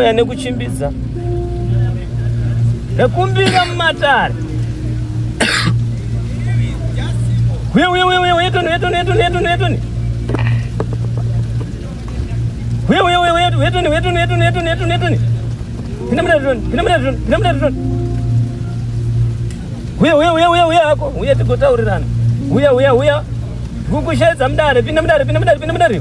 Mweya nekuchimbidza nekumbira mumatare uye tigotaurirana uya uya uya kukushaidza mudare pinda mudare pinda mudare pinda mudare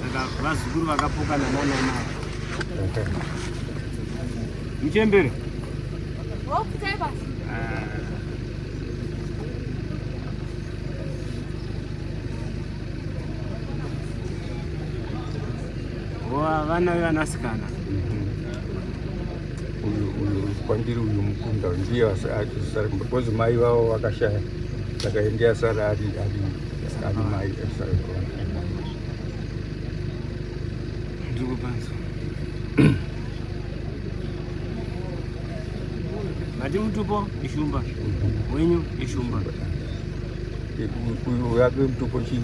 saka vazukuru vakapokana nanana muchembere vana vevanasikana uyu uyu kwandiri uyu mukunda ndiye asara kumba because mai vavo vakashaya saka ndiye asara ari ari ari mai asara mati mutupo ishumba wenyu ishumba uyu yake mutupo chii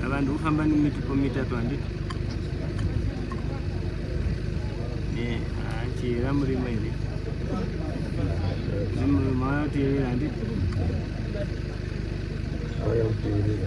Ava ndikufamba nemitupo mitatu handiti? Eh, achiyera murimo here? Murimo anoteerera handiti? Auya kuteerera.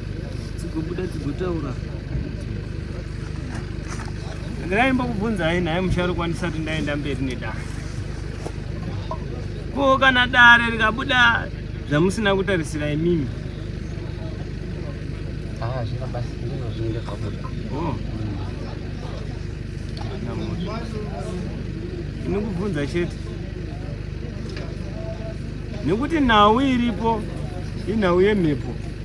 dzigobuda dzigotaura ndaimba kubvunzai nhai musharukwa ndisati ndaenda mberi nedare ko kana dare rikabuda zvamusina kutarisira imimi ah, oh. ini kubvunza chete nekuti nhau iripo inhau yemhepo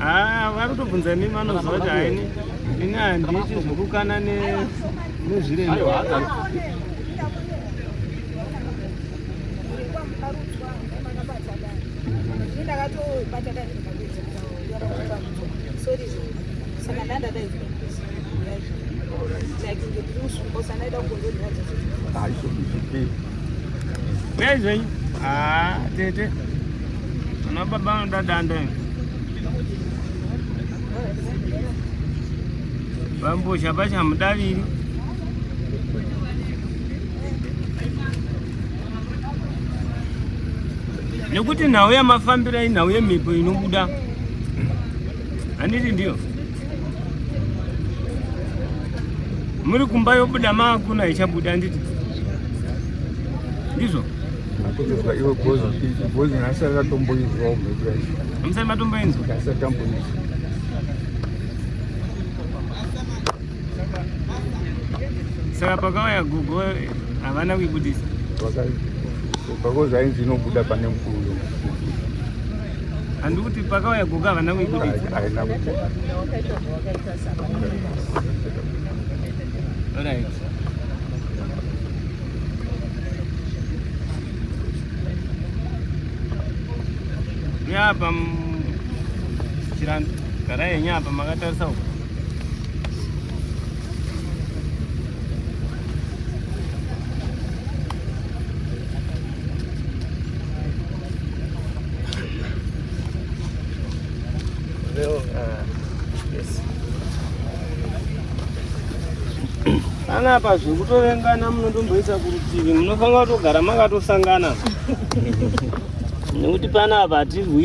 Ah, vari kutobvunza nemi vanoziva kuti haini ini handiiti zvekukana nezviremba ndakatobata dai ndikabidza kutaura sorry saka ndandadaidzwa Nezvenyu? Ah, tete. Ana baba anoda danda. Vambozha pachamudaviri. Nekuti nhau yamafambira inhau yemhepo inobuda Handiti ndiyo? Muri kumba yobuda maakuna ichabuda handiti? Ndizvo? Akutozwa iwe gozi gozi nhasi akatomboinzwa umhepura izvo. Hamusati matomboinzwa? Asi akamboinzwa. saka pakauya gogo havana kuibudisa gogo zvainzi inobuda pane mukuru uyo handikuti pakauya gogo havana kuibudisa haina kubuda Alright. Nyapa mchirani karaye nyapa makatarisa huko panapa zvekutovengana munondomboisa kurutivi munofanira kutogara makatosangana nekuti panapa hatirwi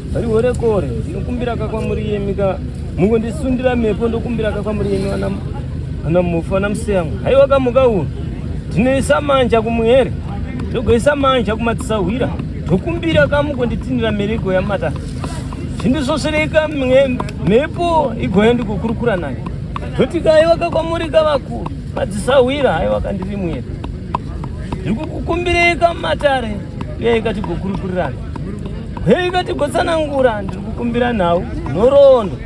Vari gore gore ndinokumbira ka kwamuri yemi ka mungo ndisundira mepo ndokumbira ka kwamuri yemi ana ana mufu ana museyangu haiwa ka muka uno ndinoisa manja kumuhere ndogoisa manja kumatisahwira ndokumbira ka mungo nditinira merego yamata zvindisvosereka mhepo igoya ndikukurukura nayo ndoti ka haiwa ka kwamuri ka vakuru madzisahwira haiwa ka ndiri mwere ndiri kukukumbirei ka matare uyai ka tigokurukurirana hei vatigotsanangura ndiri kukumbira nhau nhoroondo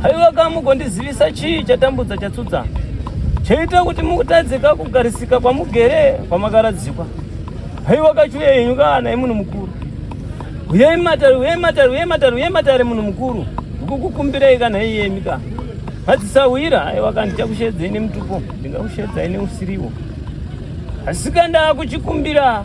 haiwa ka mugondizivisa chii chatambudza chatsudzana chaita kuti mukutadzika kugarisika kwamugere kwamakaradzikwa haiwa kachuya yenyu kaana imunhu mukuru uyai matare uyai matare uyai matare uyai matare munhu mukuru ndikukukumbirei kana iyemi ka madzisahwira haiwa ka ndichakushedzai nemutupo ndingakushedzai neusiriwo asika ndaakuchikumbira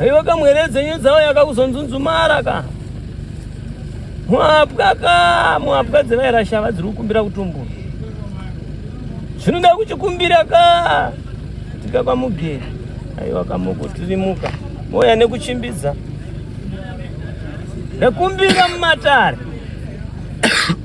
Aiwa kamwere dzenyu dzawo yakakuzonzunzumara ka. Mwapwa ka, mwapwa dzevaira shava dziri kukumbira kutumbura. Zvinoda kuchikumbira ka. Tika kwa mugeri. Aiwa kamoko tirimuka. Moya nekuchimbidza. Nekumbira mumatare.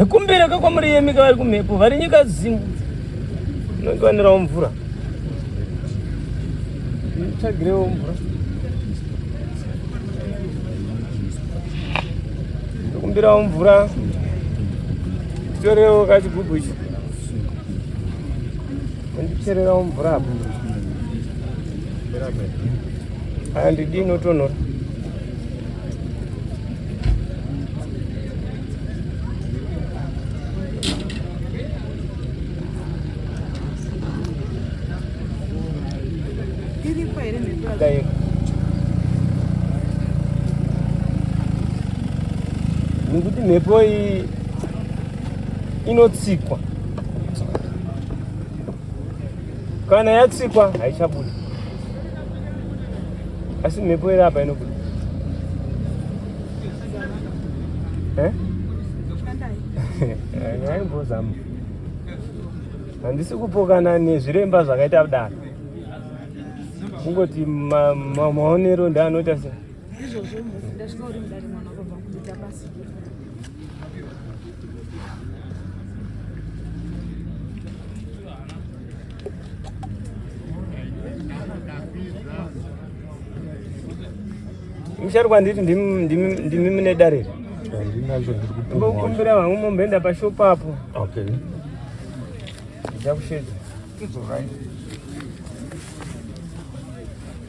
Ekumbira ka kwamuri yemi ka vari kumhepo vari nyika zimu inongiwanirawo mvura tsvagirewo mvura ekumbirawo mvura torewo kachigubhu ichi ondichererawo mvura apo andidi inotonhora nekuti mhepo iyi inotsikwa kana yatsikwa haichabuda asi mhepo iri apa inobuda eh? aimbozama handisi kupokana nezviremba zvakaita kudaro kungoti maonero ndeanoita sei izvozvo mhofu ndasvika uri mudare mwana vakabva kuita basa mushari kwanditi ndimi mune dare ri mbokumbira vangu momboenda pashopu apo ndichakushedza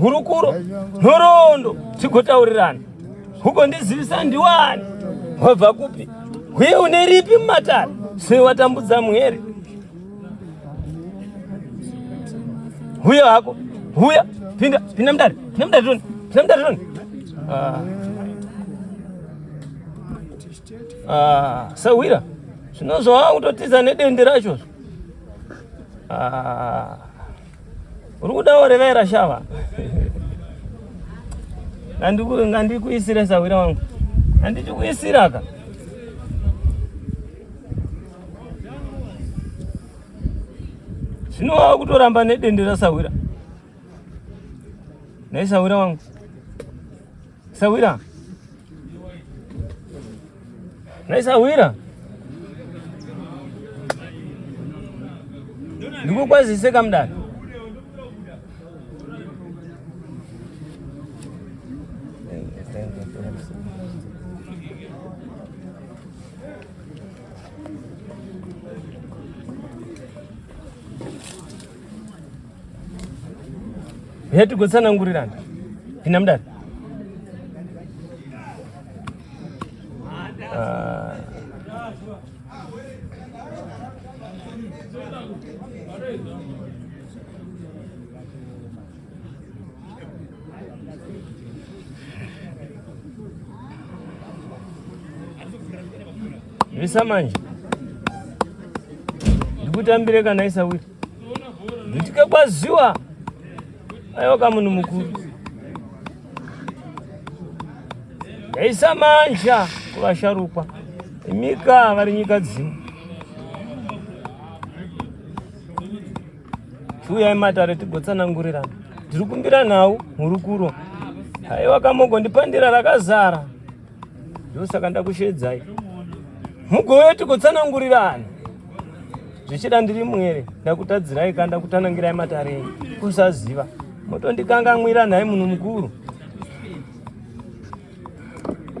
hurukuro nhoroondo tigotaurirana huko ndizivisa ndiwani wabva kupi uye une ripi mumatare sei watambudza muhere huya hako huya pinda pinda mudare pinda mudare toni pinda mudare toni ah. ah, sahwira zvinozvaa kutotiza nedende racho ah. uri kuda orevera shava ngandikuisire sahwira wangu andichikuisira ka zvino wava kutoramba nedende rasahwira naisahwira wangu Sawira. Nai Sawira. Ndikukwazise kamdani. heti gotsanangurirana ndina mudari ah. Visa manje ndikutambire kana isawira nditike kwaziwa aiwa kamunhu mukuru yaisa manja kuvasharukwa imika vari nyika dzimwe chiuyai matare tigotsanangurirana ndiri kumbira nhau mhurukuro haiwa kamoko ndipandira rakazara ndosaka ndakushedzai mugove tigotsanangurirana zvichida ndiri mwere ndakutadzirai ka ndakutanangirai matare enyu kusaziva motondikanganwira nhai munhu mukuru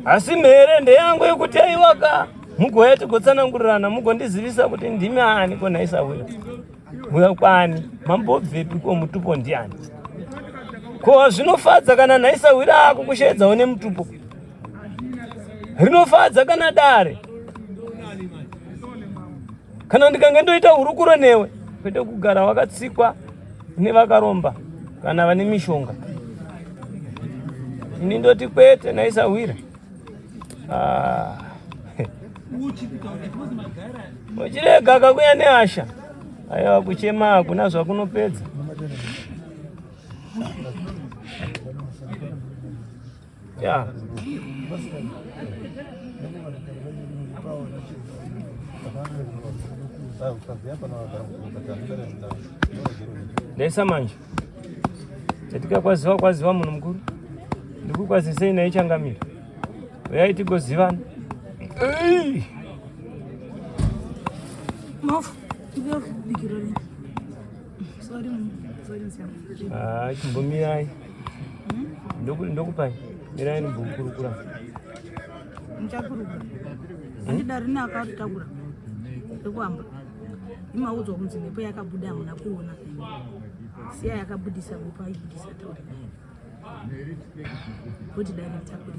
asi mhere ndeyangu yekuti aiwaka mugove tigotsanangurirana mugondizivisa kuti ndimi ani ko nhaisahwira Mbuya kwani mambobvepi ko mutupo ndiani? Ko zvinofadza kana nhaisahwira ako kusheedza one mutupo? Rinofadza kana dare kana ndikange ndoita hurukuro newe kwete kugara wakatsikwa nevakaromba kana vane mishonga ini ndoti kwete naisahwira Ah. Uchirega kakuya nehasha. Aiwa kuchema hakuna zvakunopedza. Yeah. Dessa manja. Tatika kwaziwa kwaziwa munhu mukuru. Ndikukwazisei naye changamira. Uyai tigozivana. Mafu, ndiyo bigirori. Sorry, sorry, sorry. Ah, chimbomirai. Hmm? Ndokupai. Mirai ndimbokurukura. Muchakurukura. Ndidari neakaritakura. Ndikuamba. imaudzwa kunzi mhepo yakabuda hamuna kuona siya yakabudisa mhepo aibudisa tauri naye kuti director kuri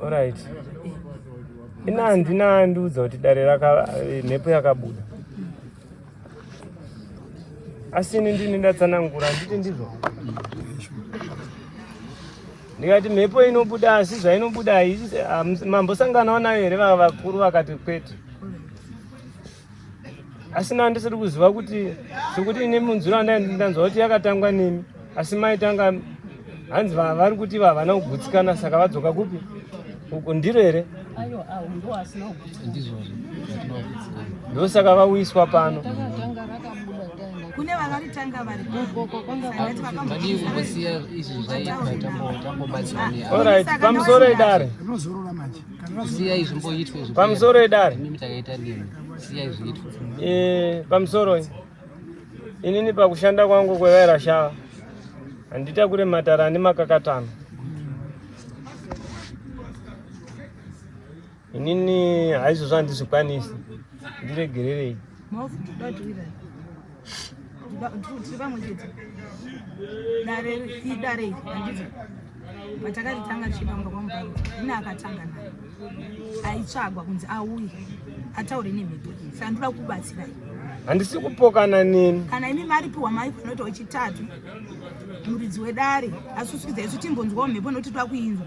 alright eh. ina handina andiudza kuti dare raka eh, mhepo yakabuda asi ini ndini ndatsanangura handiti ndizvo ndikati mhepo inobuda asi zvainobuda mambosanganawo nayo here vava vakuru vakati kwete asi na ndisiri kuziva kuti sekuti ine munzwiro andanzwa kuti yakatangwa nemi asi maitanga hanzi vari kuti vavana kugutsikana saka vadzoka kupi uku ndiro here ndizvozvo ndosaka vauyiswa pano kune vakaritanga variorit pamusoro edare pamusoro edare eh, pamusoro inini pakushanda kwangu kwevaira shava handita kure matara ane makakatano inini haizvozvo handizvikwanisi ndiregererei tiri pamwe chete dare idare handiti patakaritanga tichipanga kwamubaro ine akatanga naye aitsvagwa kunzi auye ataure nemhepo iyi saka ndoda kubatsirai handisi kupokana neni kana imi maripiwa mai panoita wechitatu muridzi wedare asuswidza isu timbonzwawo mhepo nokuti toda kuinzwa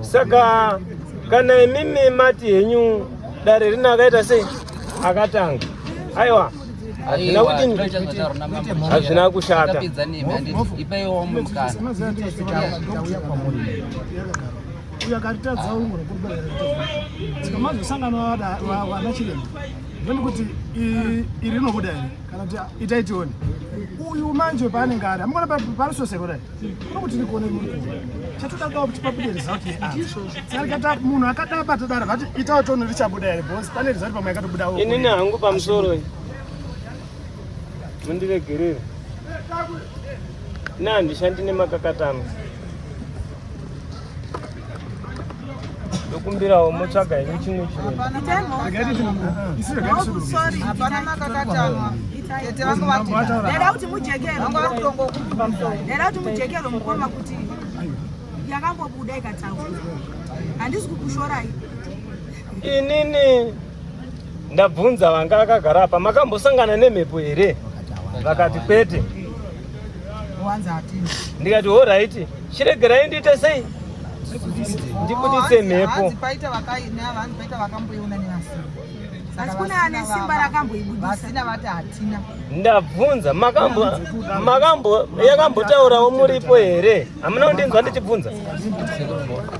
saka kana imimi mati henyu dare rino akaita sei akatanga aiwa hazvina kuti hazvina kushata uyo akaritadza umwe rekubereka mazosangana wana chiremba ndoni kuti iri rinobuda here kana kuti itai tione uyu manje paanenge ari amukona parisoseko dai munhu akadai patodaro vati itawo tono richabuda here bos pane rizati pamwe yakatobudawo inini hangu pamusoro mundiregerere ne handishandi nemakakatano ndokumbirawo motsvaga henyu chimwe chinhudaida kuti mujekerwe mukoma kuti yakambobuda ikataura handisi kukushorai inini ndabvunza vanga akagara apa makambosangana nemhepo here vakati kwete ndikati horaiti chiregerai ndiite sei ndibudise mhepo ndabvunza makambo makambo yakambotaurawo muripo here hamuna kundinzwa ndichibvunza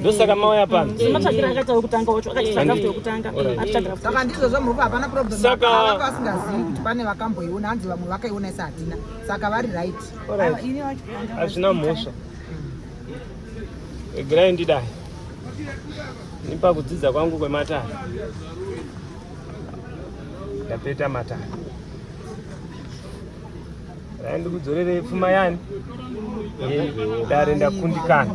ndosaka mauya pano sematsvagira akaita wekutanga wacho akaita draft yekutanga aita draft saka ndizvo zvamuropa hapana problem saka vanga vasingazivi kuti pane vakamboiona hanzi vamwe vakaiona isa hatina saka vari right hazvina mhosva egirai ndidai nipa kudzidza kwangu kwematare ndapeta matare ndikudzorere pfuma yani dare ndakundikana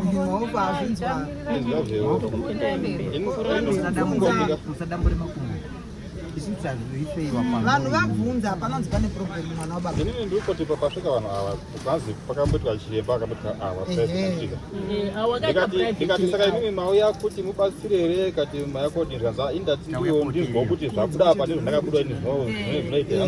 vanhu vabvunza panonzi pane problem mwana wababa inini ndiri kuti pakasvika vanhu ava kwanzi pakamboitwa chiremba akamboitwa awa ndikati saka imimi mauya kuti mubatsire here kati mayakodinzvanza indati ndiwo ndinzwa kuti zvabuda apa ndizvo ndakabuda ini zvinoitea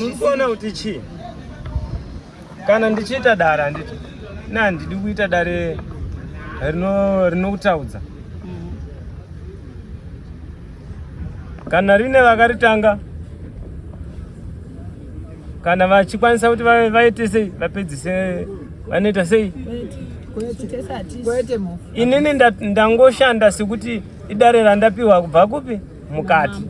ndikuona kuti chii kana ndichiita dare handiti na handidi kuita dare rinokutaudza kana rine vakaritanga kana vachikwanisa kuti vaite sei vapedzise vanoita sei inini ndangoshanda sekuti idare randapiwa kubva kupi mukati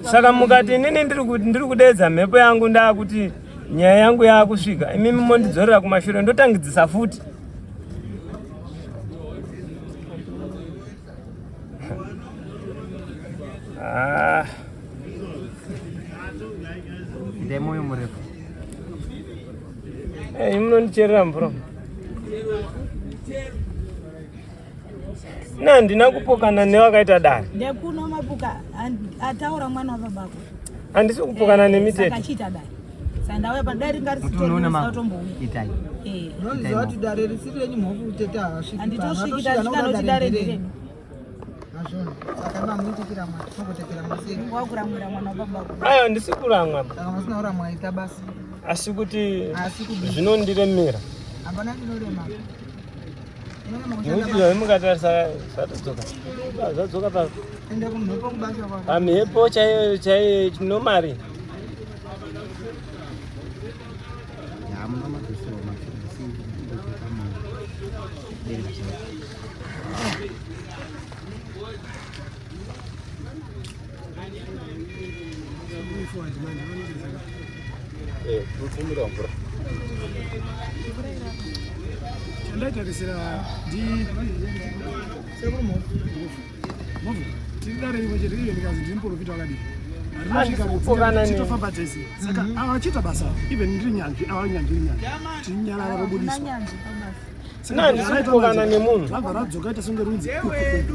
saka mukati inini ndiri kudeedza mhepo yangu ndaakuti nyaya yangu yaakusvika imimi mondidzorera kumashure ndotangidzisa futi ah. ndemoyo murefu eh, imunondicherera mvura na handina kupokana nevakaita dare ndekuno mapuka ataura mwana wababako handisi kupokana eh, nemi tete akachiita dare sandauya padare ringa risitotombouyaitai eh. nonziva kuti dare risiri renyu mhofu utete havasviki handitosvikita zvikanoti dare ndiredu ayo handisi kuramwa asi kuti zvinondiremera hapana chinorema Muchizwa vemukatarisa zvatodzoka zvadzoka pa pamhepo chaiyo chaiyo nomari Eh, kutumira mvura. Chandaitarisira ndi sekumo. Move. Tidare iwe chete iye ndikazi ndiri muprofita wakadii. Tinofamba tese saka mhm. avachita basa even ndiri nyanzvi ava nyanzvi nyanzvi tinyarara kobudiswa sina handisi kutokana nemunhu zvabva radzoka ita songe runzi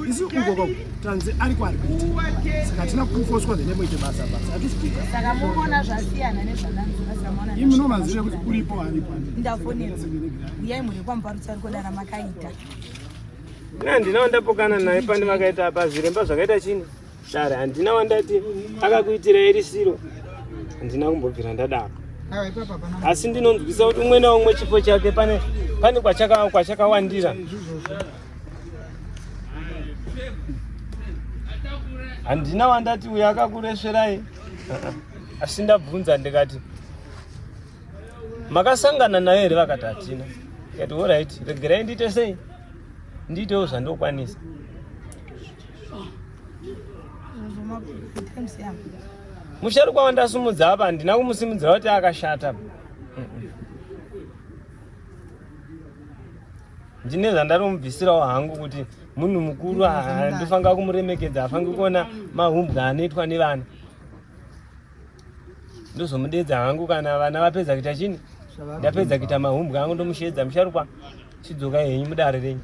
isi ukoko tanzi ari kwari kuita saka hatina kufoswa the name ite basa basa hatisikuisaka muona zvasiyana nezvananimi nomazive kuti uripo aripo ndafonera uyai mhuri kwamuparutsa ari kodana makaita na ndinawo ndapokana naye pandimakaita apa zviremba zvakaita chini Share handina wandati akakuitira irisiro. Handina kumbobvira ndadaro. Asi ndinonzwisa kuti umwe naumwe chipo chake pane pane kwachaka kwachakawandira. Handina wandati uya akakuresverai. Asi ndabvunza ndikati makasangana nayo here vakati hatina ikati orit regerai ndiite sei ndiitewo zvandokwanisa musharukwa wandasumudza apa handina kumusimudzira kuti akashata ndine zvandanomubvisirawo hangu kuti munhu mukuru handifanira kumuremekedza hafangi kuona mahumbwa anoitwa nevana ndozomudedza hangu kana vana vapedza kuita chini ndapedza kuita mahumbwa angu ndomushedza musharukwa chidzoka henyu mudare renyu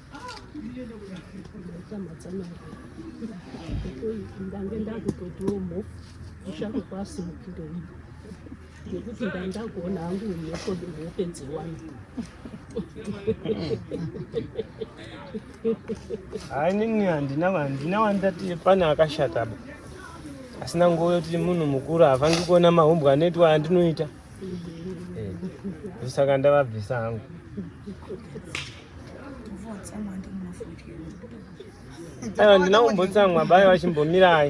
ndange ndakutotiwo mhofu kushaka kwasimukiro iyi nekuti ndandakuona hangu mhepo hope dziwani hayi nini handina handina wandati pane akashata ba asina nguva yoti munhu mukuru hafangi kuona mahumbwa anoitwa andinoita eh, saka ndavabvisa hangu Ayo ndina kumbotsamwa bayo vachimbomirai.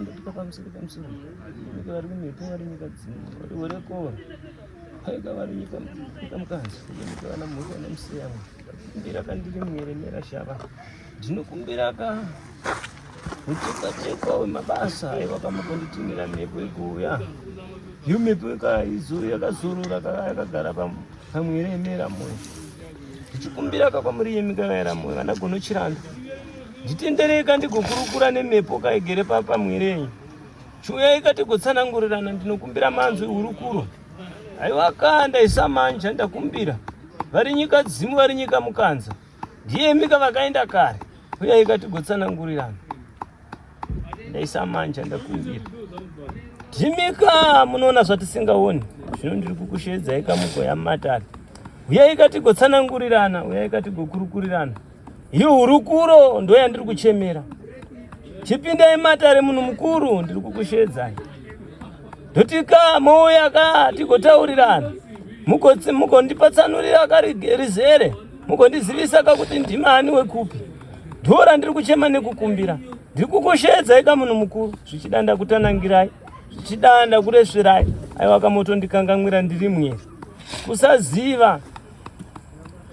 ndapika pamusoro pamusoro ika vari kumhepo vari nyika dzino vari werekova aika vari nyika mukanzi ika vana mhuri vana musiyamwe ndira kandiri mwere nera shava Ndinokumbira ka muchekwa chekwa wemabasa aiwa pamakonditinira mhepo ikuuya iyo mhepo ikaizo yakazorora kaka yakagara pamwere yemera moyo ndichikumbira ka kwamuri yemi kakaera moyo kana gonochiranda nditendereka ndigokurukura nemhepo kaigere papamwerenyi chiuya ikati gotsanangurirana ndinokumbira manzwi hurukuro aiwa ka ndaisa manja ndakumbira vari nyika dzimu vari nyika mukanza Ndiyemika vakaenda kare. Uya ikatigotsanangurirana. Ndaisa manja ndakumbira. Ndimika munoona zvatisingaoni. Zvino ndiri kukusheedza ikamuko yamatari. Uya ikatigotsanangurirana, uya ikatigokurukurirana. Iyi hurukuro ndo yandiri kuchemera. Chipindai matare munhu mukuru ndiri kukusheedzai. Ndotika mouya ka tigotaurirana. Mukondipa tsanurira ka rizere. mukondizivisa ka kuti ndimani wekupi ndiwo randiri kuchema nekukumbira ndiri kukusheedzai ka munhu mukuru zvichida ndakutanangirai zvichida ndakuresverai aiwa kamotondikangamwira ndiri mwe kusaziva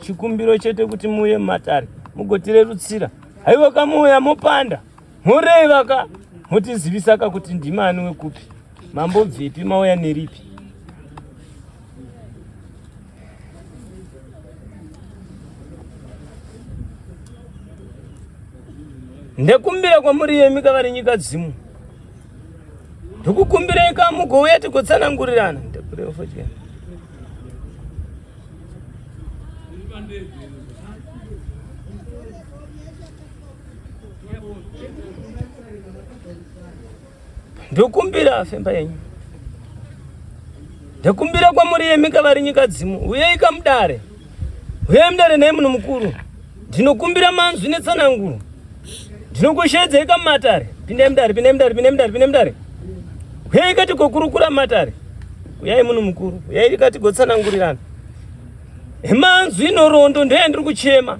chikumbiro chete kuti muuye mumatare mugotirerutsira haiwa kamuuya mopanda moreva ka motizivisa ka kuti ndimani wekupi mambobvepi mauya neripi ndekumbira kwamuri yemi kavari nyika dzimu ndikukumbirei ka mugouya tigotsanangurirana ndekureofodya ndokumbira afemba yenyu ndokumbira kwamuri yemi kavari nyika dzimu uyei kamudare uyei mudare naye munhu mukuru ndinokumbira manzwi netsananguro ndinokusheedzei kamatare pindai mudare pindai mudare pindai mudare pindai mudare uyei kati kokurukura matare uyai munhu mukuru uyei kati gotsanangurirana emanzwi inorondo ndoyandiri kuchema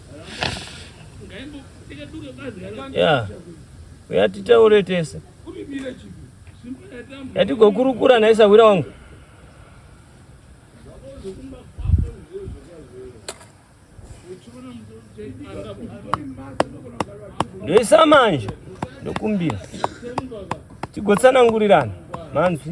ya uya titaure tese yatigokurukura nhai sahwira wangu ndoisa manje ndokumbira tigotsanangurirana manzwi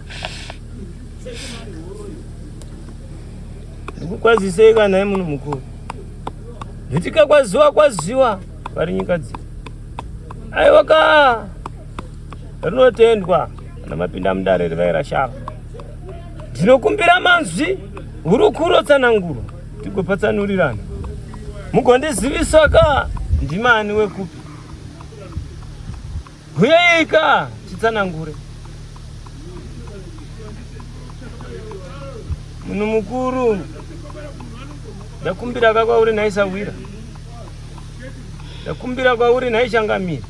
Ndikukwazisei kana nhai munhu mukuru. Nditika kwaziwa kwaziwa vari nyika dzi. Aiwa ka rinotendwa kana mapinda mudare rivaira shava. Ndinokumbira manzwi hurukuro tsananguro tigopatsanurirana. Mugondizivisa ka ndimani wekupi. Huyeika titsanangure. Munhu mukuru ndakumbira ka kwauri nhai Sahwira. Ndakumbira kwauri nhai Changamire.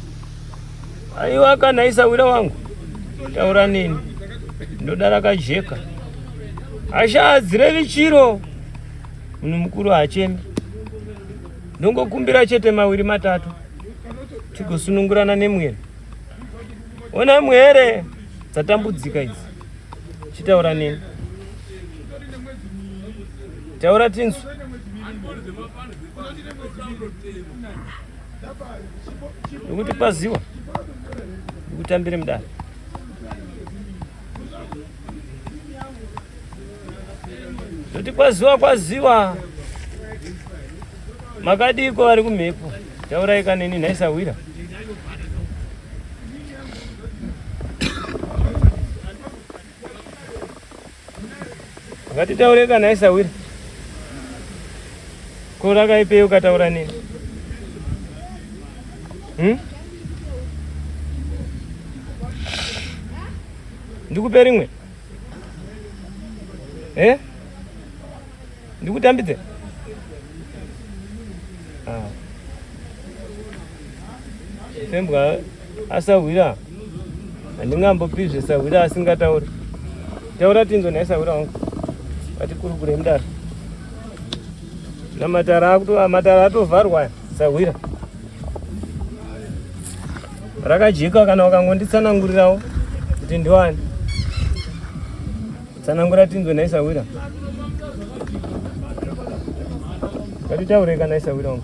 Aiwa ka nhai Sahwira wangu. Taura nini? Ndoda rakajeka. Hasha hadzirevi chiro. Munhu mukuru hachemi. Ndongokumbira chete mawiri matatu. tigosunungurana nemwere ona mwere dzatambudzika idzi chitaura neni taura tinzwe nokuti paziwa ndikutambire mudare Kuti kwaziwa kwaziwa makadiko vari kumhepo tauraika neni nhaisahwira Ngatitaure kana isawira. Ko rakaipei ukataura nini? Hmm? Ndikupe rimwe? Eh? Ndikutambidze? Ah. Sembwa asahwira handingambopizve sahwira asingatauri taura tinzwe nhai sahwira wangu vatikurukure mdara namatara akuto matara atovharwa sahwira rakajeka kana wakangonditsanangurirawo kuti ndiwani tsanangura tinzwe nhai sahwira ngatitaure kana isahwira wangu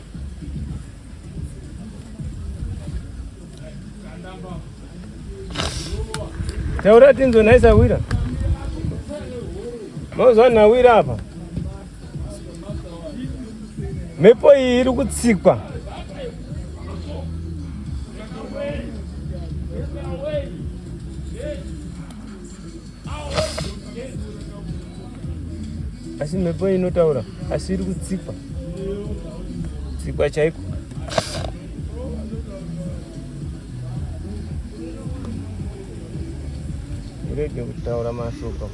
Taura tinzo nhai sahwira. Mozwa nhawira apa. Mhepo iyi iri kutsikwa. asi mhepo inotaura asi iri kutsikwa tsikwa chaiko irege kutaura mashoko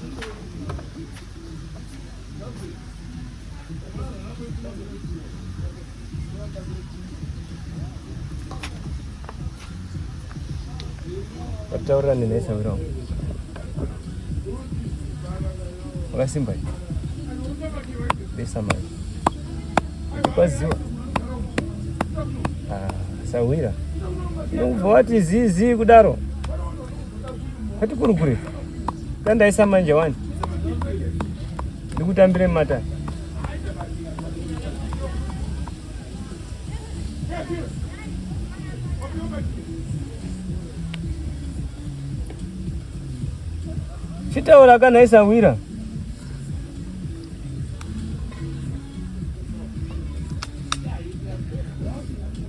Wataura nini nesa wiro? Wakasimba hivi. Besa mali. Kwaziwa. Ah, sawira. Ndinobva wati zizi kudaro. Kati kuri kuri. Tandaisa manje wani. Ndikutambire mata. Chitaura kana isawira.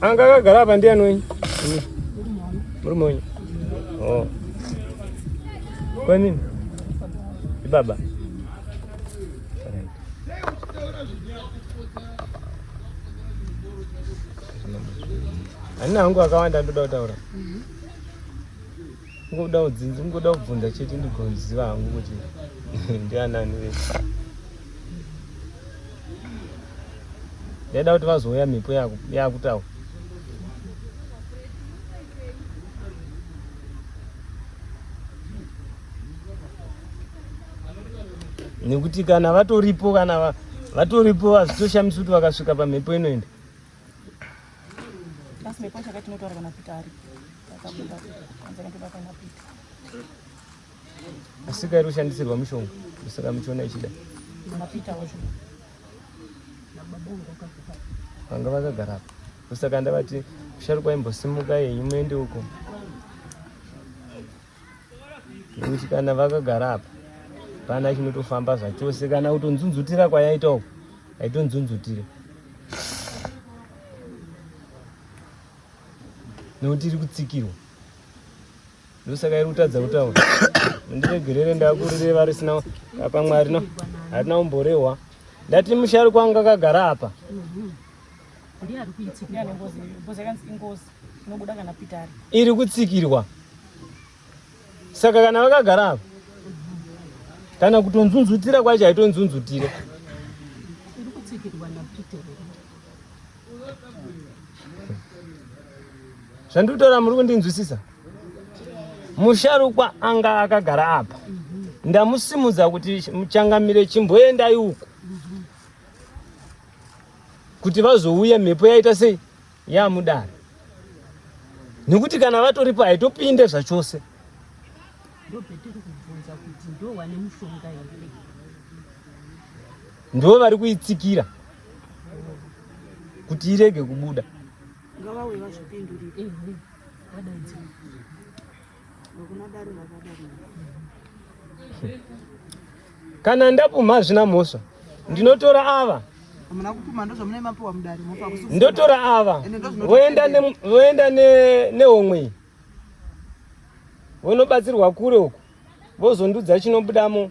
Anga akagara apa ndiani wenyu? Murume wenyu. Oh. Kwa nini? Baba. Ani nangu akawanda ndoda kutaura. Ngoda udzinzi ngoda kubvunza chete ndigoziva hangu kuti ndianani vese. Ndaida kuti vazouya mhepo yakutaura. Nekuti kana vatoripo kana vatoripo hazvitoshamisi kuti vakasvika pamhepo inoenda. Basi mepo chakati tinotaura kana Peter ari. Akabuda. Anza ndoda kana Peter. Asika iri kushandisirwa mushonga. Kusaka muchiona ichida. Kana Peter wacho. Vanga vakagara apa. Kusaka ndavati sharukwa imbosimuka yenyu muende uko. nekuti kana vakagara apa pana chinotofamba zvachose kana kutonzunzutira kwayaita uku haitonzunzutire nekuti iri kutsikirwa ndosaka iri kutadza kutaura ndiregerere ndakurireva risina apa mwari no harina kumborehwa ndati musharukwa wangu akagara apa ndiye ari kuitika ndiye ane ngozi ngozi yakanzi ingozi Unobuda kana Peter ari. Iri kutsikirwa. Saka kana vakagara apa kana kutonzunzutira kwacho haitonzunzutire. Iri kutsikirwa na Peter. Zvandikutaura muri kundinzwisisa? Musharukwa anga akagara apa. Mm -hmm ndamusimudza kuti muchangamire chimboendai uko kuti vazouya mhepo yaita sei ya mudare nekuti kana vatoripo haitopinde zvachose ndo vari kuitsikira kuti irege kubuda ngavauye vazvipindurire kana ndapumha hazvina mhosva ndinotora ava ndotora ava voenda nehomwe iyi vonobatsirwa kure uku vozondudza chinobudamo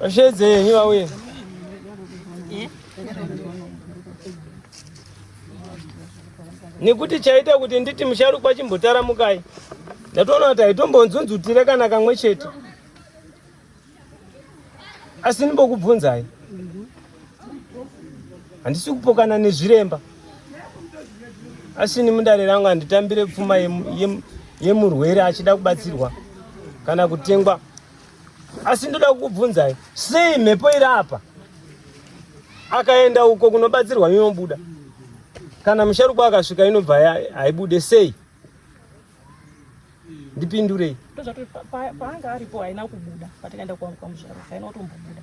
Vashedze yenyu vauye. Nekuti chaita kuti nditi musharukwa chimbotaramukai. Ndatoona kuti haitombonzunzutire kana kamwe chete. Asi ndimbokubvunzai. Handisi kupokana nezviremba. Asi ini mundare rangu handitambire pfuma yemurwere achida kubatsirwa kana kutengwa. asi ndoda kukubvunzai sei mhepo iri apa akaenda uko kunobatsirwa inobuda kana musharukwa akasvika inobva haibude sei ndipindurei paanga aripo haina kubuda patakaenda kwamusharukwa haina kutombobuda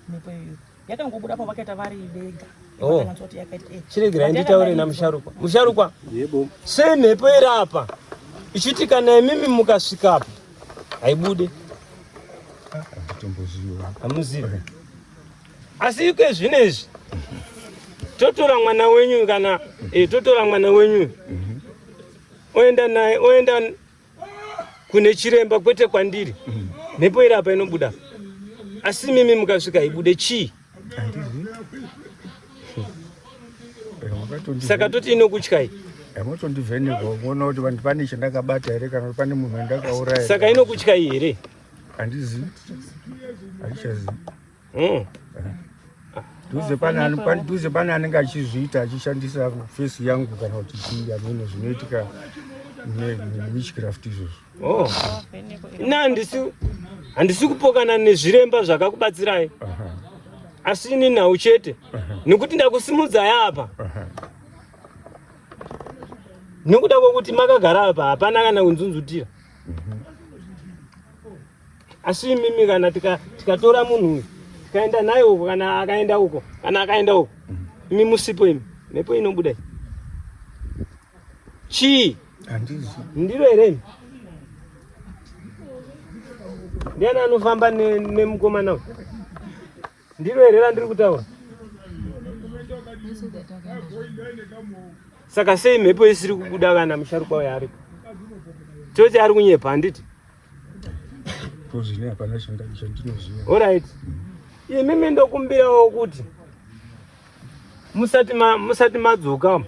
mhepo iyoyo yakangobuda pavakaita vari vega oh. eh. chiregerai nditaure namusharukwa musharukwa sei mhepo iri apa ichiti kana imimi mukasvikapo haibude hamuzive asi iko zvino izvi totora mwana wenyu kana eh, totora mwana wenyu mhm. oenda naye oenda kune chiremba kwete kwandiri mm. mhepo iri apa inobuda asi mimi mukasvika ibude chii saka toti inokutyai yamotondivhenekwa kuona kuti vanhu pane chandakabata here kana kuti pane munhu andakauraya saka inokutyai here handizi handichazivi Oh. Duze pane pane duze pane anenge achizviita achishandisa face yangu kana kuti chii amene zvinoitika witchcraft izvozvo. Oh. Ina handisi handisi kupokana nezviremba zvakakubatsirai. Asi ini nhau chete. Nekuti ndakusimudzai apa. Nekuda kwekuti makagara apa hapana kana kunzunzutira. asi imimi kana tikatora tika munhu uyu tikaenda naye uko kana akaenda uko kana akaenda uko mm. imi musipo imi mhepo inobuda chii ndiro here imi ndiani anofamba nemukomana ne ndiro here randiri kutaura saka sei mhepo isiri kubuda kana musharukwa uyo aripo toti ari kunyepa handiti Kozvine hapana changa chandinoziva. All right. Imi mendo kumbira wokuti musati ma musati madzoka.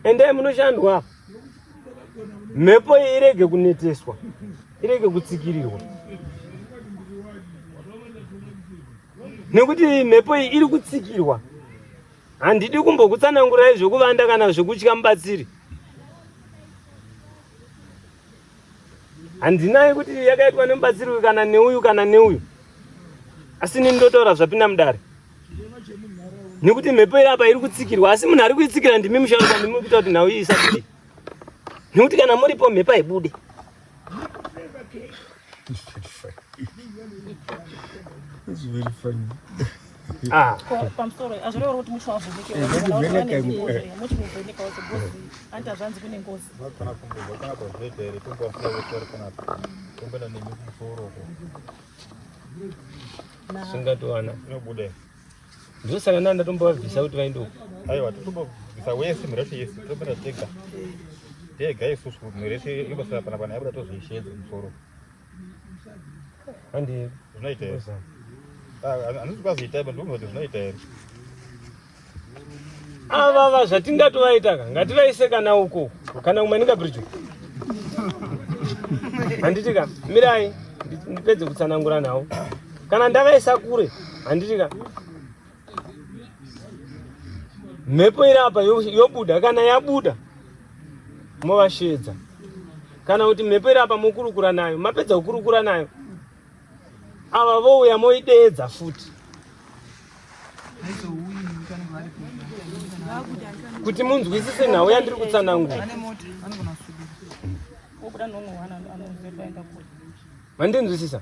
Endai munoshandwa. Mhepo irege kuneteswa. Irege kutsikirirwa. Nekuti mhepo iyi iri kutsikirwa. Handidi kumbokutsanangurai zvekuvanda kana zvekutya mubatsiri. handinai kuti yakaitwa nemubatsiri uyu kana neuyu kana neuyu asi nini ndotaura zvapinda mudare nekuti mhepo iri apa iri kutsikirwa asi munhu ari kuitsikira ndimi musharuka ndimi kuita kuti nhau iyi isabude nekuti kana muripo mhepo haibude Ah. pamusoro azvirevo kuti mucho wavhunikeanti hazvanzi kune ngozi singatowana ndosaka nda ndatombovabvisa kuti vaende uko aiwa totombobvisa wese mireshe yese topera tega tega isusu mireshe ibasa pana pana yabuda tozviishedze musoro andi zvinoita here handizi ah, kwazoita iba ndikuzoti zvinoita here avava ah, zvatingatovaitaka ngativaise kana uko kana kumwe ndingabridge handiti ka mirai ndipedze kutsanangura nawo kana ndakaisa kure handiti ka mhepo iri apa yobuda kana yabuda movashedza kana kuti mhepo iri apa mokurukura nayo mapedza kukurukura nayo ava vouya moideedza futi kuti munzwisise nhau yandiri kutsanangura mandinzwisisa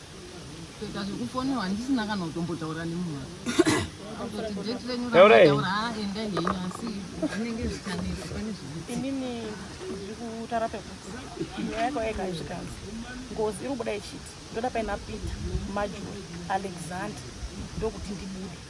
kuita zvekufonirwa ndisina kana kutombotaura nemunhu kutoti date renyu rataura ah, endai henyu asi zvinenge zvikanetsa pane zvinini ndiri kutara pekuti nyaya yako yega izvikanzi ngozi iri kubuda ichiti ndoda paina peter majuri alexander ndokuti ndibude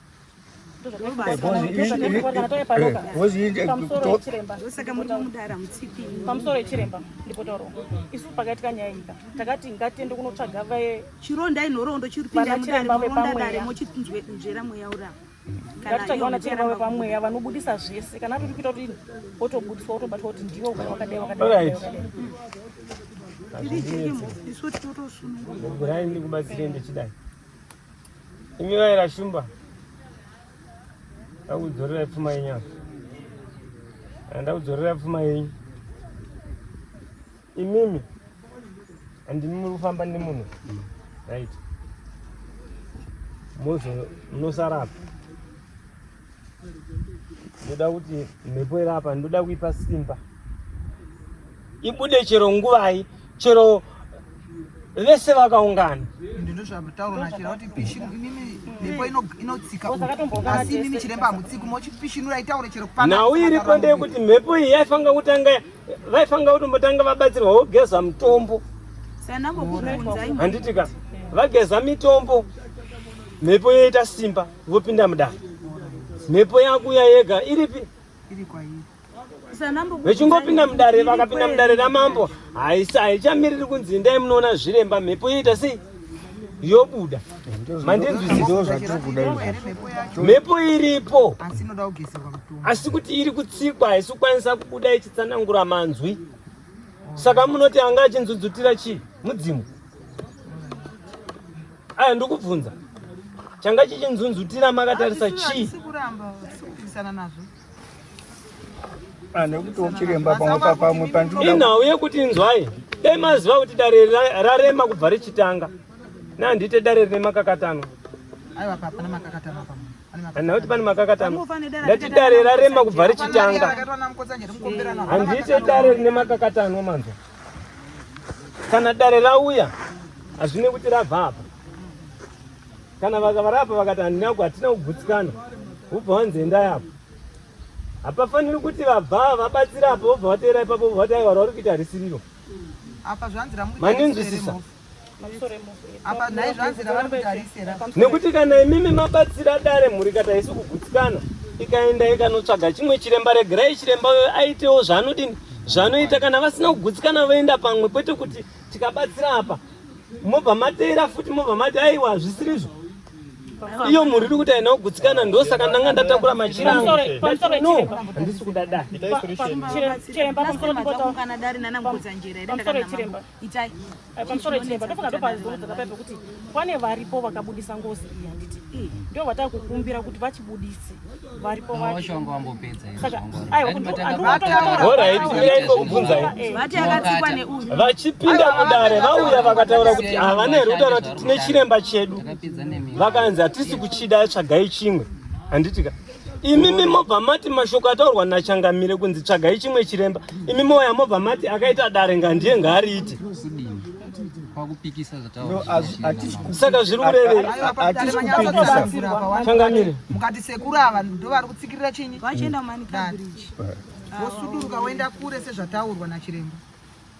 pamusoro yechiremba ndipo tauro isu pakaitika nyaya ika takati ngatiende kunotsvaga vachironda inhoroondo chiripindachiremba vepamweyamochitinzwera mweya urava ngatitsvage vanachiremba vepamweya vanobudisa zvese kana atoti kuita kuti wotobudiswa wotobatwa kuti ndiwe ukati wakadai wakadai ndirai ndikubatsirei ndichidai Imi vaira shumba ndakudzorera pfuma yenyu apa ah, ndakudzorera pfuma yenyu imimi andimi muri kufamba nemunhu right munosara apa ndoda kuti mhepo iri apa ndoda kuipa simba ibude chero nguvai chero vese vakaungana nhau iripo ndeyekuti mhepo iyi yaifanira kutanga vaifanira kuti mbotanga vabatsirwa vogeza mutombo handiti ka vageza mitombo mhepo yoita simba vopinda mudare mhepo yakuya yega iripi vechingopinda mudare vakapinda mudare ramambo haisa haichamiriri kunzi indai munoona zviremba mhepo yoita sei yobuda mandinzwisisemhepo iripo asi kuti iri kutsikwa haisi kukwanisa kubuda ichitsanangura manzwi saka munoti anga achinzudzutira chii mudzimu Aya ndokubvunza changa chichinzunzutira makatarisa chii? Ah, inhau yekuti inzwai dai maziva kuti dare rarema kubva richitanga nandite dare rine makakatanwa hanha kuti pane makakatanwa ndati dare rarema kubva richitanga handite dare rine makakatanwa manzwa kana dare rauya hazvine kuti rabva apa kana vakavarapa vakati handinako hatina kugutsikana vobva wanzi endai apo hapafaniri kuti vabva vabatsira apo vobva vateera ipapo vobva vati aiwa rauri kuita harisiriro maninzwisisa nekuti kana imimi mabatsira dare mhuri kata isi kugutsikana ikaenda ikanotsvaga chimwe chiremba regerai chiremba uyo aitewo zvaanodini zvanoita kana vasina kugutsikana voenda pamwe kwete kuti tikabatsira apa mobva mateera futi mobva mati aiwa zvisirizvo iyo mhuri iri kuti haina kugutsikana ndo saka ndanga ndatakura machira angu no handisi kuda dai itai eh, pamusoro itireba ndofunga ndopazorudza kapai pekuti pane varipo vakabudisa ngozi iyi handiti eh, ndio vatava kukumbira kuti vachibudise varipo vashonga vambopedza vachipinda mudare vauya vakataura kuti havana here kutaura kuti tine chiremba chedu vakanzi hatisi kuchida tsvagai chimwe handitika imi mimobva mati mashoko ataurwa nachangamire kunzi tsvagai chimwe chiremba imi moya mobva mati akaita dare ngandiye ngaariite saka zviri kureveichangamire mukati sekuru ava ndovari kutsikirira chinyi vachienda mani vosuduruka voenda kure sezvataurwa nachiremba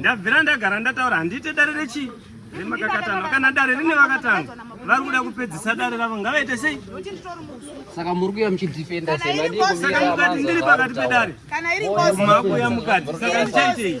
ndabvira ndagara ndataura handiite dare rechii remakakatano kana dare rine vakatano vari kuda kupedzisa dare ravo ngavaite sei saka muri kuya muchidefenda saka mukati ndiri pakati pedare makuya mukati saka ndichaitei